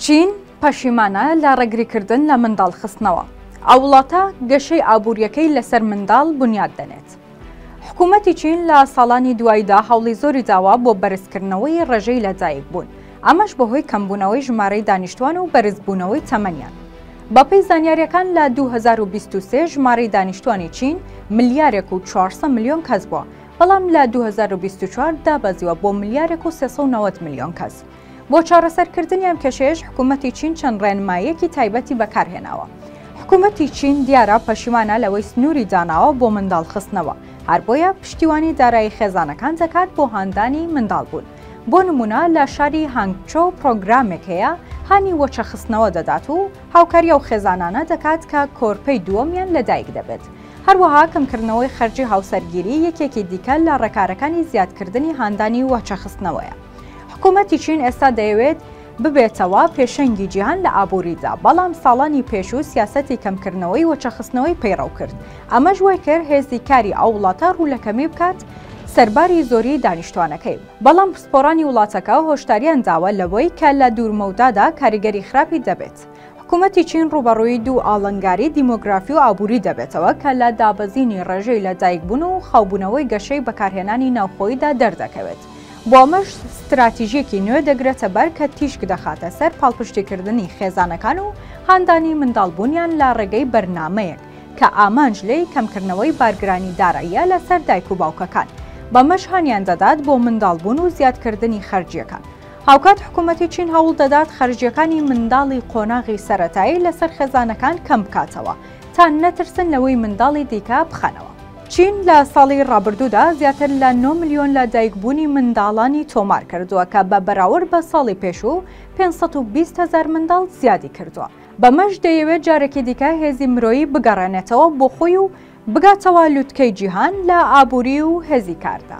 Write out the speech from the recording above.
چین پەشیمانە لە ڕێگریکردن لە منداڵ خستنەوە، ئەو وڵاتە گەشەی ئابووریەکەی لەسەر منداڵ بونیاد دەنێت. حکومەتی چین لە ساڵانی دواییدا هەوڵی زۆری داوە بۆ بەرزکردنەوەی ڕێژەی لەدایک بوون، ئەمەش بەهۆی کەمبوونەوەی ژمارەی دانیشتوان و بەرزبوونەوەی تەمەنیان. بەپێی زانیاریەکان لە دوو هەزار و بیست و سێ ژمارەی دانیشتوانی چین ملیارێک و چوار سەد ملیۆن کەس بووە، بەڵام لە دوو هەزار و بیست و چوار دابەزیوە بۆ ملیارێک و سێ سەد و نەوەد ملیۆن کەس. بۆ چارەسەرکردنی ئەم کێشەیەش حکوومەتی چین چەند ڕێنماییەکی تایبەتی بەکارهێناوە. حکوومەتی چین دیارە پەشیمانە لەوەی سنووری داناوە بۆ منداڵ خستنەوە، هەر بۆیە پشتیوانی دارایی خێزانەکان دەکات بۆ هاندانی منداڵبوون. بۆ نموونە لە شاری هانگچۆو پرۆگرامێک هەیە هانی وەچەخستنەوە دەدات و هاوکاری ئەو خێزانانە دەکات کە کۆرپەی دووەمیان لەدایک دەبێت. هەروەها کەمکردنەوەی خەرجی هاوسەرگیری یەکێکی دیکە لە ڕێکارەکانی زیادکردنی هاندانی وەچەخستنەوەیە. حکوومەتی چین ئێستا دەیەوێت ببێتەوە پێشەنگی جیهان لە ئابووریدا بەڵام ساڵانی پێشوو سیاستی کەمکردنەوەی وەچەخستنەوەی پەیڕەو کرد ئەمەش وای کرد هێزی کاری ئەو وڵاتە ڕوو لە کەمی بکات سەرباری زۆری دانیشتوانەکەی بەڵام پسپۆرانی وڵاتەکە هۆشداریان داوە لەوەی کە لە دوورمەودادا کاریگەری خراپی دەبێت حکوومەتی چین ڕوبەڕووی دوو ئاڵنگاری دیمۆگرافی و ئابووری دەبێتەوە کە لە دابەزینی ڕێژەی لە دایکبوون و خاوبوونەوەی گەشەی بەکارهێنانی ناوخۆیدا دەردەکەوێت بۆ ئەمەش ستراتیژیەکی نوێ دەگرێتە بەر کە تیشک دەخاتە سەر پاڵپشتیکردنی خێزانەکان و هاندانی منداڵ بوونیان لە ڕێگەی بەرنامەیەک کە ئامانج لێی کەمکردنەوەی بارگرانی داراییە لە سەر دایک و باوکەکان بەمەش هانیان دەدات بۆ منداڵ بوون و زیادکردنی خەرجیەکان. هاوکات حکومەتی چین هەوڵ دەدات خەرجیەکانی منداڵی قۆناغی سەرەتایی لەسەر خێزانەکان کەم بکاتەوە تا نەترسن لەوەی منداڵی دیکە بخەنەوە. چین لە ساڵی ڕابردوودا زیاتر لە نۆ ملیۆن لە دایکبوونی منداڵانی تۆمار کردووە کە بە بەراورد بە ساڵی پێشوو پێنج سەد و بیست هەزار منداڵ زیادی کردووە، بەمەش دەیەوێت جارێکی دیکە هێزی مرۆیی بگەڕێنێتەوە بۆ خۆی و بگاتەوە لوتکەی جیهان لە ئابووری و هێزی کاردا.